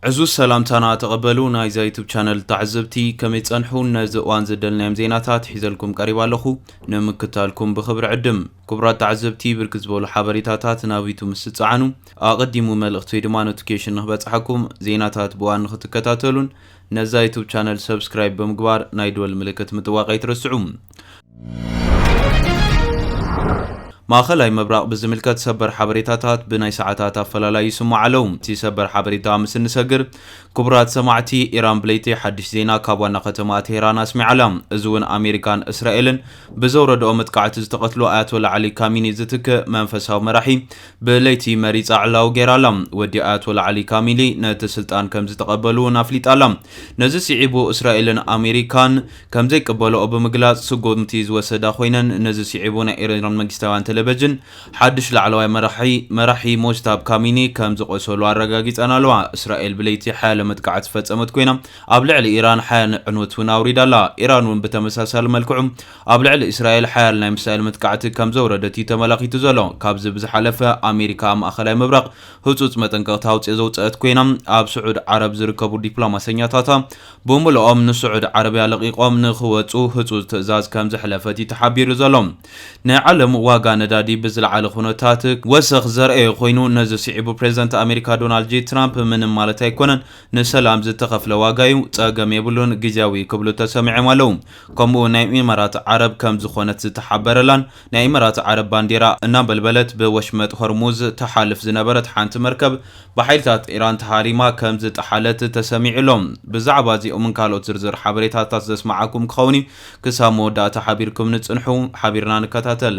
ዕዙዝ ሰላምታና ተቐበሉ ናይዛ ዩቱብ ቻነል ተዓዘብቲ ከመይ ጸንሑ ነዚ እዋን ዘደልናዮም ዜናታት ሒዘልኩም ቀሪብ ኣለኹ ንምክታልኩም ብኽብሪ ዕድም ክቡራት ተዓዘብቲ ብርክ ዝበሉ ሓበሬታታት ናብ ዩቱብ ምስ ትጸዓኑ ኣቐዲሙ መልእኽቲ ወይ ድማ ኖቲፊኬሽን ንክበጽሓኩም ዜናታት ብእዋን ንክትከታተሉን ነዛ ዩቱብ ቻነል ሰብስክራይብ ብምግባር ናይ ደወል ምልክት ምጥዋቕ ኣይትረስዑ። ማእኸላይ ምብራቕ ብዝምልከት ሰበር ሓበሬታታት ብናይ ሰዓታት ኣፈላላይ ይስምዑ ኣለዉ። እቲ ሰበር ሓበሬታ ምስ እንሰግር ክቡራት ሰማዕቲ፣ ኢራን ብለይቲ ሓድሽ ዜና ካብ ዋና ከተማኣ ቴህራን ኣስሚዓ ኣላ። እዚ እውን ኣሜሪካን እስራኤልን ብዘውረድኦ መጥቃዕቲ ዝተቐትሉ ኣያቶላ ዓሊ ካሚኒ ዝትክእ መንፈሳዊ መራሒ ብለይቲ መሪጻ ዕላዊ ገይራ ኣላ። ወዲ ኣያቶላ ዓሊ ካሚሊ ነቲ ስልጣን ከም ዝተቐበሉ እውን ኣፍሊጣ ኣላ። ነዚ ስዒቡ እስራኤልን ኣሜሪካን ከም ዘይቅበልኦ ብምግላጽ ስጉምቲ ዝወሰዳ ኮይነን፣ ነዚ ስዒቡ ናይ ኢራን መንግስታውያን ተለቨጅን ሓድሽ ላዕለዋይ መራሒ መራሒ ሞጅታብ ካሚኒ ከም ዝቖሰሉ ኣረጋጊጸን ኣለዋ። እስራኤል ብለይቲ ሓያለ መጥቃዕቲ ዝፈጸመት ኮይና፣ ኣብ ልዕሊ ኢራን ሓያል ዕንወት እውን ኣውሪዳ ኣላ። ኢራን እውን ብተመሳሳሊ መልክዑ፣ ኣብ ልዕሊ እስራኤል ሓያል ናይ ሚሳይል መጥቃዕቲ ከም ዘውረደት እዩ ተመላኺቱ ዘሎ። ካብዚ ብዝሓለፈ ኣሜሪካ ኣብ ማእኸላይ ምብራቕ ህፁፅ መጠንቀቕታ ኣውፂኦ ዘውፀአት ኮይና ኣብ ስዑድ ዓረብ ዝርከቡ ዲፕሎማሰኛታታ ብሙሉኦም ንስዑድ ዓረብያ ለቒቖም ንኽወፁ ህፁፅ ትእዛዝ ከም ዘሕለፈት እዩ ተሓቢሩ ዘሎ። ናይ ዓለም ዋጋ ነዳዲ ብዝለዓለ ኩነታት ክወሰኽ ዘርኣየ ኮይኑ ነዚ ስዒቡ ፕሬዝዳንት ኣሜሪካ ዶናልድ ጄ ትራምፕ ምንም ማለት ኣይኮነን ንሰላም ዝተኸፍለ ዋጋ እዩ ፀገም የብሉን ግዝያዊ ክብሉ ተሰሚዖም ኣለው። ከምኡ ናይ ኢማራት ዓረብ ከም ዝኾነት ዝተሓበረላን ናይ ኢማራት ዓረብ ባንዴራ እናንበልበለት ብወሽመጥ ሆርሙዝ ትሓልፍ ዝነበረት ሓንቲ መርከብ ብሓይልታት ኢራን ተሃሪማ ከም ዝጠሓለት ተሰሚዑ ኣሎ። ብዛዕባ እዚኦምን ካልኦት ዝርዝር ሓበሬታታት ዘስመዓኩም ክኸውን እዩ። ክሳብ መወዳእታ ሓቢርኩምኒ ጽንሑ። ሓቢርና ንከታተል።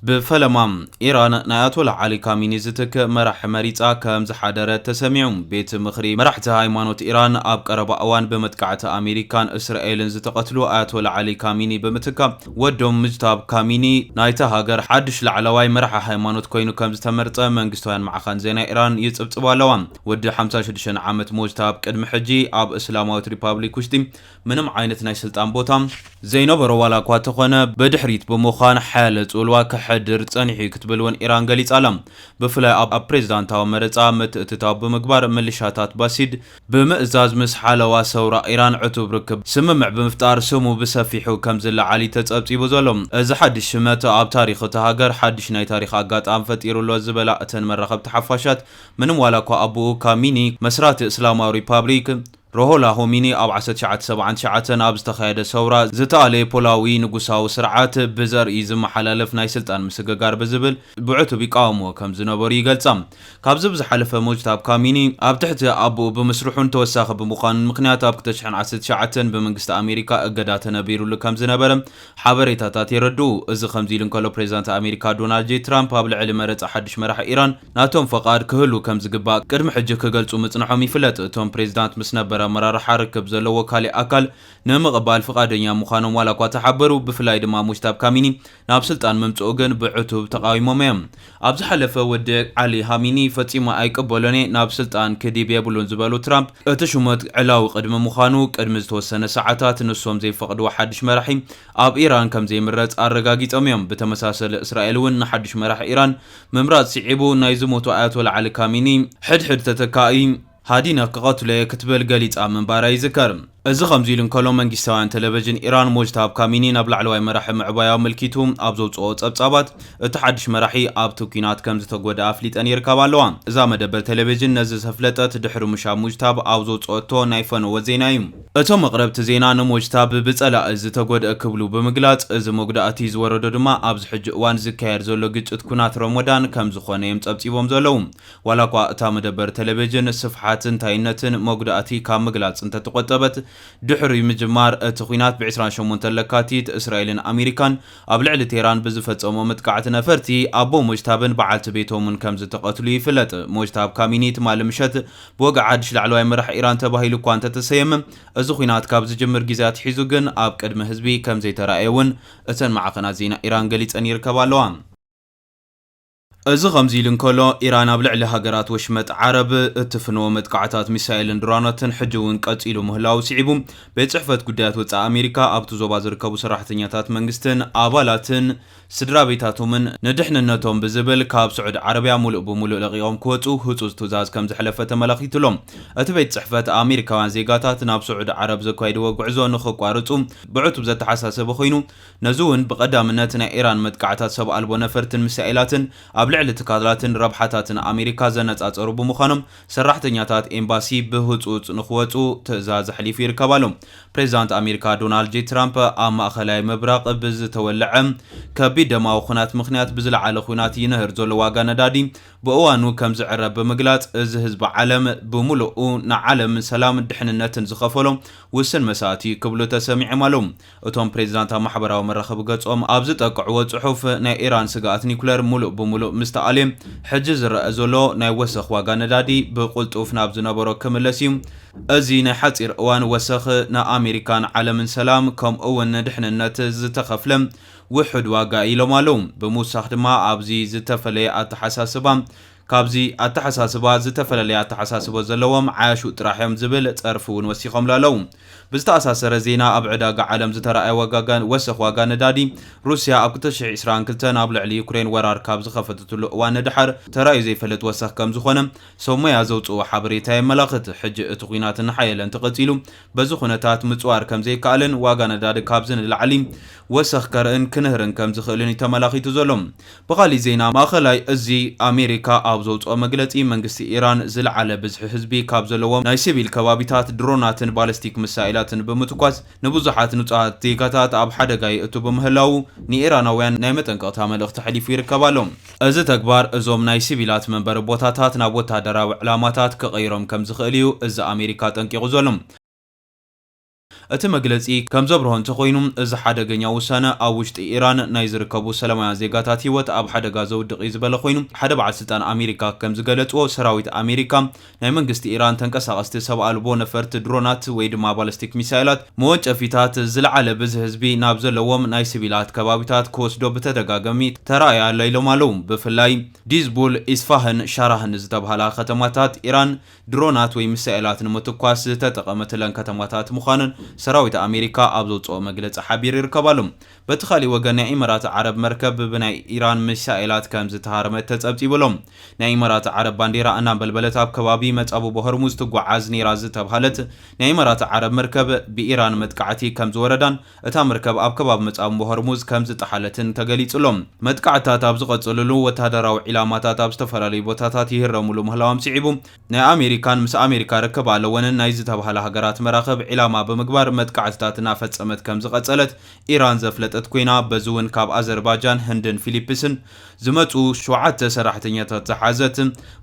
ብፈለማ፣ ኢራን ናይ ኣያቶላህ ዓሊ ካሚኒ ዝትክእ መራሒ መሪጻ ከም ዝሓደረት ተሰሚዑ። ቤት ምኽሪ መራሕቲ ሃይማኖት ኢራን፣ ኣብ ቀረባ እዋን ብመጥቃዕቲ ኣሜሪካን እስራኤልን ዝተቐትሉ ኣያቶላህ ዓሊ ካሚኒ ብምትካእ፣ ወዶም ሙጅታብ ካሚኒ ናይታ ሃገር ሓድሽ ላዕለዋይ መራሒ ሃይማኖት ኰይኑ ከም ዝተመርጸ መንግስታውያን ማዕኸን ዜና ኢራን ይጽብጽባ ኣለዋ። ወዲ ሓምሳን ሽዱሽተን ዓመት ሙጅታብ ቅድሚ ሕጂ ኣብ እስላማዊት ሪፓብሊክ ውሽጢ ምንም ዓይነት ናይ ስልጣን ቦታ ዘይነበሮ ዋላ እኳ ተኾነ ብድሕሪት ብምዃን ሓያለ ጽልዋ ከሕድር ጸኒሑ'ዩ ክትብል ውን ኢራን ገሊጻ ኣላ። ብፍላይ ኣብ ፕሬዝዳንታዊ መረጻ ምትእትታው ብምግባር ምልሻታት ባሲድ ብምእዛዝ ምስ ሓለዋ ሰውራ ኢራን ዕቱብ ርክብ ስምምዕ ብምፍጣር ስሙ ብሰፊሑ ከምዝለዓል'ዩ ተጸብጺቡ ዘሎ። እዚ ሓድሽ ሽመት ኣብ ታሪኽ እታ ሃገር ሓድሽ ናይ ታሪኽ ኣጋጣሚ ፈጢሩ'ሎ ዝበላ እተን መራኸብቲ ሓፋሻት ምንም ዋላ እኳ ኣቡኡ ካሚኒ መስራቲ እስላማዊ ሪፓብሊክ ሮሆላ ሆሚኒ ኣብ ዓሰርተ ትሽዓተ ሰብዓን ትሽዓተን ኣብ ዝተኻየደ ሰውራ ዝተኣለየ ፖላዊ ንጉሳዊ ስርዓት ብዘርኢ ዝመሓላለፍ ናይ ስልጣን ምስግጋር ብዝብል ብዕቱብ ይቃወምዎ ከም ዝነበሩ ይገልጻ። ካብዚ ብዝሓለፈ ሞጅታብ ካሚኒ ኣብ ትሕቲ ኣቦኡ ብምስርሑን ተወሳኺ ብምዃኑን ምኽንያት ኣብ ክልተ ሽሕን ዓሰርተ ትሽዓተን ብመንግስቲ ኣሜሪካ እገዳ ተነቢሩሉ ከም ዝነበረ ሓበሬታታት የረድኡ። እዚ ከምዚ ኢሉ እንከሎ ፕሬዝዳንት ኣሜሪካ ዶናልድ ጄይ ትራምፕ ኣብ ልዕሊ መረፃ ሓዱሽ መራሒ ኢራን ናቶም ፈቓድ ክህሉ ከምዝግባእ ቅድሚ ሕጂ ክገልፁ ምፅንሖም ይፍለጥ። እቶም ፕሬዝዳንት ምስ ነበር ኣመራርሓ ርክብ ዘለዎ ካሊእ ኣካል ንምቕባል ፍቓደኛ ምዃኖም ዋላኳ ተሓበሩ ብፍላይ ድማ ሙጅታብ ካሚኒ ናብ ስልጣን ምምፅኡ ግን ብዕቱብ ተቓዊሞም እዮም። ኣብ ዝሓለፈ ውድቅ ዓሊ ሃሚኒ ፈጺሙ ኣይቅበሎን'የ፣ ናብ ስልጣን ክዲብ የብሉን ዝበሉ ትራምፕ፣ እቲ ሹመት ዕላዊ ቅድሚ ምዃኑ ቅድሚ ዝተወሰነ ሰዓታት ንሶም ዘይፈቕድዎ ሓድሽ መራሒ ኣብ ኢራን ከምዘይምረጽ ኣረጋጊጾም'ዮም። ብተመሳሰሊ እስራኤል'ውን ንሓድሽ መራሒ ኢራን ምምራጽ ስዒቡ ናይ ዝሞቱ ኣያቶላ ዓሊ ካሚኒ ሕድሕድ ተተካኢ ሃዲነ ክቐትሎ'የ ክትብል ገሊጻ ምንባራ ይዝከር። እዚ ከምዚ ኢሉ እንከሎ መንጊስታውያን ተለቨዥን ኢራን ሞጅታብ ካሚኒ ናብ ላዕለዋይ መራሒ ምዕባዩ ኣመልኪቱ ኣብ ዘውጽኦ ጸብጻባት እቲ ሓድሽ መራሒ ኣብቲ ኲናት ከምዝተጎድኣ ኣፍሊጠን ይርከባ ኣለዋ። እዛ መደበር ተለቨዥን ነዚ ዘፍለጠት ድሕሪ ምሻብ ሙጅታብ ኣብ ዘውጽኦቶ ናይ ፈነወ ዜና'ዩ። እቶም ኣቕረብቲ ዜና ንሞጅታብ ብጸላኢ ዝተጎድኣ ክብሉ ብምግላጽ እዚ መጉዳእቲ ዝወረዶ ድማ ኣብዚ ሕጂ እዋን ዝካየድ ዘሎ ግጭት ኲናት ሮሞዳን ከምዝኾነ'ዮም ጸብጺቦም ዘለዉ። ዋላኳ እታ መደበር ተለቬጅን ስፍሓት እንታይነትን መጉዳእቲ ካብ ምግላፅ እንተተቆጠበት ድሕሪ ምጅማር እቲ ኹናት ብ ዕስራን ሸሞንተን ለካቲት እስራኤልን ኣሜሪካን ኣብ ልዕሊ ቴህራን ብዝፈፀሞ ምጥቃዕት ነፈርቲ ኣቦ ሞጅታብን በዓልቲ ቤቶምን ከምዝተቀትሉ ይፍለጥ። ሞጅታብ ካሚኒ ትማሊ ምሸት ብወግዒ ሓድሽ ላዕለዋይ መራሒ ኢራን ተባሂሉ እኳ እንተተሰየመ እዚ ኹናት ካብ ዝጅምር ግዜ ኣትሒዙ ግን ኣብ ቅድሚ ህዝቢ ከምዘይተራእየ እውን እተን ማዕኸናት ዜና ኢራን ገሊፀን ይርከባ ኣለዋ። እዚ ከምዚ ኢሉ እንከሎ፣ ኢራን ኣብ ልዕሊ ሃገራት ወሽመጥ ዓረብ እትፍንዎ መጥቃዕታት ሚሳይልን ድሮናትን ሕጂ'ውን ቀጺሉ ምህላዉ ስዒቡ፣ ቤት ጽሕፈት ጉዳያት ወጻኢ ኣሜሪካ ኣብቲ ዞባ ዝርከቡ ሰራሕተኛታት መንግስትን ኣባላትን ስድራቤታቶምን ንድሕንነቶም ብዝብል ካብ ስዑድ ዓረብያ ሙሉእ ብሙሉእ ለቒቖም ክወጹ ህጹጽ ትእዛዝ ከምዘሕለፈ ተመላኺቱ ኣሎ። እቲ ቤት ጽሕፈት፣ ኣሜሪካውያን ዜጋታት ናብ ስዑድ ዓረብ ዘካይድዎ ጉዕዞ ንኽቋርጹ ብዕቱብ ዘተሓሳሰበ ኮይኑ፣ ነዚ እውን ብቐዳምነት ናይ ኢራን መጥቃዕታት ሰብ ኣልቦ ነፈርትን ሚሳኤላትን ኣብ ልዕሊ ትካላትን ረብሓታትን ኣሜሪካ ዘነፃፀሩ ብምዃኖም ሰራሕተኛታት ኤምባሲ ብህፁፅ ንክወፅኡ ትእዛዝ ኣሕሊፉ ይርከብ ኣሎ። ፕሬዚዳንት ኣሜሪካ ዶናልድ ጄ ትራምፕ ኣብ ማእኸላይ ምብራቕ ብዝተወለዐ ከቢድ ደማዊ ኹናት ምኽንያት ብዝለዓለ ኹናት ይንህር ዘሎ ዋጋ ነዳዲ ብእዋኑ ከምዝዕረ ብምግላፅ እዚ ህዝቢ ዓለም ብሙሉኡ ንዓለም ሰላምን ድሕንነትን ዝኸፈሎ ውስን መስዋእቲ ክብሉ ተሰሚዖም ኣለው። እቶም ፕሬዚዳንት ኣብ ማሕበራዊ መራኸቢ ገፆም ኣብ ዝጠቅዕዎ ፅሑፍ ናይ ኢራን ስግኣት ኒኩለር ሙሉእ ብሙሉእ ምስ ተኣልየ ሕጂ ዝረኣ ዘሎ ናይ ወሰኽ ዋጋ ነዳዲ ብቕልጡፍ ናብ ዝነበሮ ክምለስ እዩ። እዚ ናይ ሓፂር እዋን ወሰኽ ንኣሜሪካን ዓለምን ሰላም ከምኡ እውን ድሕንነት ዝተኸፍለ ውሑድ ዋጋ እዩ ኢሎም ኣለው። ብምውሳኽ ድማ ኣብዚ ዝተፈለየ ኣተሓሳስባ ካብዚ ኣተሓሳስባ ዝተፈለለየ ኣተሓሳስቦ ዘለዎም ዓያሹ ጥራሕ እዮም ዝብል ፀርፊ እውን ወሲኾምሉ ኣለው። ብዝተኣሳሰረ ዜና ኣብ ዕዳጋ ዓለም ዝተረኣየ ዋጋ ወሰኽ ዋጋ ነዳዲ ሩሲያ ኣብ ክልተ ሽሕ ዒስራን ክልተን ኣብ ልዕሊ ዩክሬን ወራር ካብ ዝኸፈተትሉ እዋን ንደሓር ተራእዩ ዘይፈልጥ ወሰኽ ከምዝኾነ ሰብሞያ ዘውፅእዎ ሓበሬታ የመላኽት። ሕጂ እቲ ኹናት እናሓየለ እንተቐፂሉ በዚ ኩነታት ምፅዋር ከምዘይከኣልን ዋጋ ነዳዲ ካብዚ ንላዕሊ ወሰኽ ከርእን ክንህርን ከምዝኽእልን እዩ ተመላኺቱ ዘሎ። ብኻሊእ ዜና ማእኸላይ እዚ ኣሜሪካ ኣብ ዘውፅኦ መግለፂ መንግስቲ ኢራን ዝለዓለ ብዝሒ ህዝቢ ካብ ዘለዎም ናይ ሲቪል ከባቢታት ድሮናትን ባለስቲክ ምሳኤላትን ብምትኳስ ንብዙሓት ንፁሃት ዜጋታት ኣብ ሓደጋ የእቱ ብምህላዉ ንኢራናውያን ናይ መጠንቀቕታ መልእኽቲ ኣሕሊፉ ይርከብ ኣሎ። እዚ ተግባር እዞም ናይ ሲቪላት መንበሪ ቦታታት ናብ ወተሃደራዊ ዕላማታት ክቕይሮም ከም ዝኽእል እዩ እዚ ኣሜሪካ ኣጠንቂቑ ዘሎ። እቲ መግለጺ ከም ዘብርሆ እንተኾይኑ፣ እዚ ሓደገኛ ውሳነ ኣብ ውሽጢ ኢራን ናይ ዝርከቡ ሰላማውያን ዜጋታት ህይወት ኣብ ሓደጋ ዘውድቕ እዩ ዝበለ ኮይኑ፣ ሓደ በዓል ስልጣን ኣሜሪካ ከም ዝገለጽዎ፣ ሰራዊት ኣሜሪካ፣ ናይ መንግስቲ ኢራን ተንቀሳቐስቲ ሰብ ኣልቦ ነፈርቲ ድሮናት ወይ ድማ ባለስቲክ ሚሳይላት መወንጨፊታት ዝለዓለ ብዝሒ ህዝቢ ናብ ዘለዎም ናይ ስቪላት ከባቢታት ክወስዶ ብተደጋገሚ ተራእያ ኣላ ኢሎም ኣለው። ብፍላይ ዲዝቡል፣ ኢስፋህን ሻራህን ዝተብሃላ ከተማታት ኢራን ድሮናት ወይ ሚሳኤላት ንምትኳስ ዝተጠቐመትለን ከተማታት ምዃነን ሰራዊት ኣሜሪካ ኣብ ዘውጽኦ መግለጺ ሓቢሩ ይርከብ ኣሎ። በቲ ካሊእ ወገን ናይ ኢመራት ዓረብ መርከብ ብናይ ኢራን ሚሳኤላት ከም ዝተሃረመት ተፀብፂቡ ኣሎ። ናይ ኢመራት ዓረብ ባንዴራ እናንበልበለት ኣብ ከባቢ መፃብቦ ሆርሙዝ ትጓዓዝ ነይራ ዝተብሃለት ናይ ኢመራት ዓረብ መርከብ ብኢራን መጥቃዕቲ ከም ዝወረዳን እታ መርከብ ኣብ ከባቢ መፃብቦ ሆርሙዝ ከም ዝጠሓለትን ተገሊፁ ኣሎ። መጥቃዕትታት ኣብ ዝቐፅልሉ ወታደራዊ ዒላማታት ኣብ ዝተፈላለዩ ቦታታት ይህረምሉ ምህላዎም ስዒቡ፣ ናይ ኣሜሪካን ምስ ኣሜሪካ ርክብ ኣለወንን ናይ ዝተብሃላ ሃገራት መራኽብ ዒላማ ብምግባር መጥቃዕትታት እናፈጸመት ከምዝቐጸለት ኢራን ዘፍለጠት ኮይና፣ በዚ'ውን ካብ ኣዘርባጃን፣ ህንድን ፊሊፕስን ዝመጽኡ ሸውዓተ ሰራሕተኛታት ዝሓዘት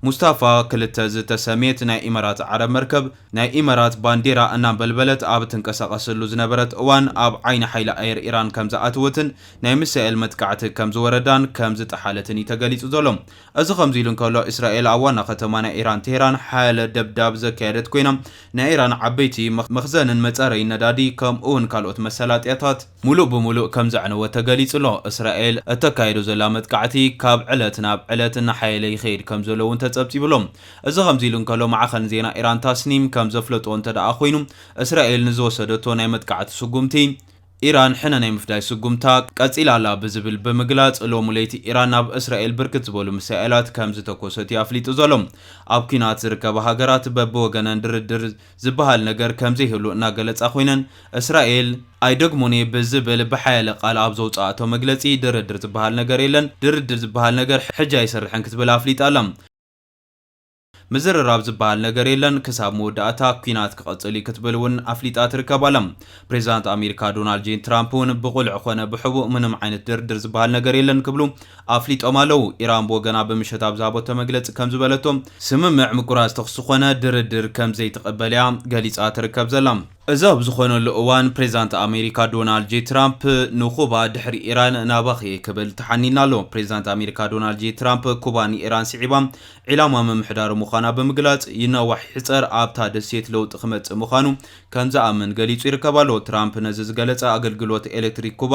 ሙስታፋ ክልተ ዝተሰምየት ናይ ኢመራት ዓረብ መርከብ ናይ ኢመራት ባንዴራ እናንበልበለት ኣብ ትንቀሳቐሰሉ ዝነበረት እዋን ኣብ ዓይኒ ሓይሊ ኣየር ኢራን ከምዝኣተወትን ናይ ሚሳኤል መጥቃዕቲ ከምዝወረዳን ከምዝጠሓለትን እዩ ተገሊጹ ዘሎ። እዚ ከምዚሉ እንከሎ፣ እስራኤል ኣብ ዋና ከተማ ናይ ኢራን ቴህራን ሓያለ ደብዳብ ዘካየደት ኮይና፣ ናይ ኢራን ዓበይቲ መኽዘንን መጻረዪ ነዳዲ ከምኡ'ውን ካልኦት መሳላጥያታት ምሉእ ብምሉእ ከምዘዕነወት ተገሊጹ'ሎ። እስራኤል እተካይዶ ዘላ መጥቃዕቲ ካብ ዕለት ናብ ዕለት እናሓየለ ይኸይድ ከምዘሎ'ውን ተጸብጺቡ'ሎ። እዚ ከምዚሉ እንከሎ፣ ማዕኸን ዜና ኢራን ታስኒም ከምዘፍለጦ እንተደኣ ኮይኑ፣ እስራኤል ንዝወሰደቶ ናይ መጥቃዕቲ ስጉምቲ፣ ኢራን ሕነ ናይ ምፍዳይ ስጉምታ ቀጺላ ኣላ ብዝብል ብምግላጽ፣ ሎሚ ለይቲ ኢራን ናብ እስራኤል ብርክት ዝበሉ ሚሳኤላት ከም ዝተኮሰት እዩ ኣፍሊጡ ዘሎ። ኣብ ኲናት ዝርከባ ሃገራት በብወገነን ድርድር ዝበሃል ነገር ከም ዘይህሉ እናገለጻ ኮይነን፣ እስራኤል፣ ኣይደግሞን እየ ብዝብል ብሓያለ ቃል ኣብ ዘውጽኣቶ መግለጺ፣ ድርድር ዝበሃል ነገር የለን፣ ድርድር ዝበሃል ነገር ሕጂ ኣይሰርሕን ክትብል ኣፍሊጣ ኣላ። ምዝርራብ ዝበሃል ነገር የለን፣ ክሳብ መወዳእታ ኲናት ክቕጽል እዩ ክትብል እውን ኣፍሊጣ ትርከብ ኣላ። ፕሬዚዳንት ኣሜሪካ ዶናልድ ጄ ትራምፕ እውን ብቑልዕ ኾነ ብሕቡእ ምንም ዓይነት ድርድር ዝበሃል ነገር የለን ክብሉ ኣፍሊጦም ኣለው። ኢራን ብወገና ብምሸት ኣብ ዝሃበቶ መግለፂ ከም ዝበለቶ፣ ስምምዕ ምቁራፅ ተኹሲ ኾነ ድርድር ከም ዘይትቕበል እያ ገሊፃ ትርከብ ዘላ። እዚ ኣብ ዝኾነሉ እዋን ፕሬዚዳንት ኣሜሪካ ዶናልድ ጄ ትራምፕ ንኩባ ድሕሪ ኢራን ናባኺ እየ ክብል ተሓኒንላ ኣሎ። ፕሬዚዳንት ኣሜሪካ ዶናልድ ጄ ትራምፕ ኩባ ንኢራን ስዒባ ዒላማ ምምሕዳሩ ምዃና ብምግላጽ ይናዋሕ ይሕጸር ኣብታ ደሴት ለውጢ ክመጽእ ምዃኑ ከም ዝኣምን ገሊጹ ይርከብ ኣሎ። ትራምፕ ነዚ ዝገለጸ ኣገልግሎት ኤሌክትሪክ ኩባ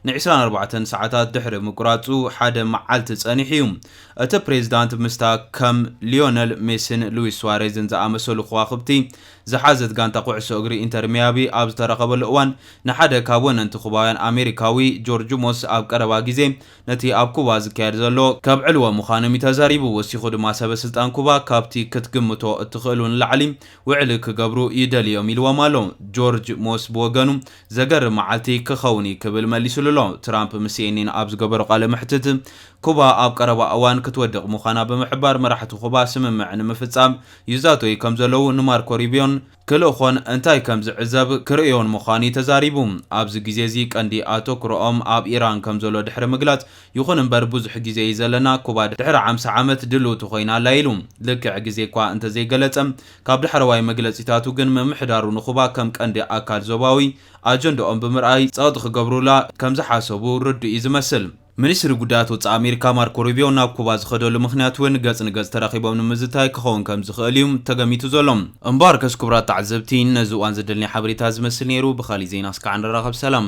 ን ዕስራን ኣርባዕተን ሰዓታት ድሕሪ ምቁራጹ ሓደ መዓልቲ ጸኒሑ እዩ። እቲ ፕሬዝዳንት ምስታ ከም ሊዮነል ሜሲን ሉዊስ ሱዋሬዝን ዝኣመሰሉ ከዋኽብቲ ዝሓዘት ጋንታ ኩዕሶ እግሪ ኢንተር ሚያቢ ኣብ ዝተራኸበሉ እዋን ንሓደ ካብ ወነንቲ ኩባውያን ኣሜሪካዊ ጆርጅ ሞስ ኣብ ቀረባ ግዜ ነቲ ኣብ ኩባ ዝካየድ ዘሎ ከብዕልዎ ምዃኖም እዩ ተዛሪቡ። ወሲኹ ድማ ሰበ ስልጣን ኩባ ካብቲ ክትግምቶ እትኽእሉ ንላዕሊ ውዕሊ ክገብሩ ይደልዩ እዮም ኢልዎም ኣሎ። ጆርጅ ሞስ ብወገኑ ዘገርም መዓልቲ ክኸውን እዩ ክብል መሊስሉ ኣሎ። ትራምፕ ምስ ሲኤንኤን ኣብ ዝገበሮ ቃለ መሕትት ኩባ ኣብ ቀረባ እዋን ክትወድቕ ምዃና ብምሕባር መራሕቲ ኩባ ስምምዕ ንምፍጻም ይዛተዩ ከም ዘለዉ ንማርኮ ሩቢዮን ክልእኮን እንታይ ከም ዝዕዘብ ክርእዮን ምዃኑ'ዩ ተዛሪቡ። ኣብዚ ግዜ'ዚ ቀንዲ ኣቶኩሮኦም ኣብ ኢራን ከም ዘሎ ድሕሪ ምግላጽ፣ ይኹን እምበር ብዙሕ ግዜ'ዩ ዘለና፣ ኩባ ድሕሪ ዓምሳ ዓመት ድልውቲ ኮይና ኣላ ኢሉ። ልክዕ ግዜ'ኳ እንተ ዘይገለጸ፣ ካብ ዳሕረዋይ መግለጺታቱ ግን ምምሕዳሩ ንኩባ ከም ቀንዲ ኣካል ዞባዊ ኣጀንድኦም ብምርኣይ ጸቕጢ ክገብሩላ ከም ዝሓሰቡ ርዱእ'ዩ ዝመስል። ሚኒስትሪ ጉዳያት ወጻኢ ኣሜሪካ ማርኮ ሩቢዮ ናብ ኩባ ዝኸደሉ ምኽንያት እውን ገጽ ንገጽ ተራኺቦም ንምዝታይ ክኸውን ከም ዝኽእል እዩ ተገሚቱ ዘሎ። እምበኣርከስ ክቡራት ተዓዘብቲ ነዚ እዋን ዘደልኒ ሓበሬታ እዚ ዝመስል ነይሩ። ብኻሊእ ዜና እስካዕ ንራኸብ ሰላም።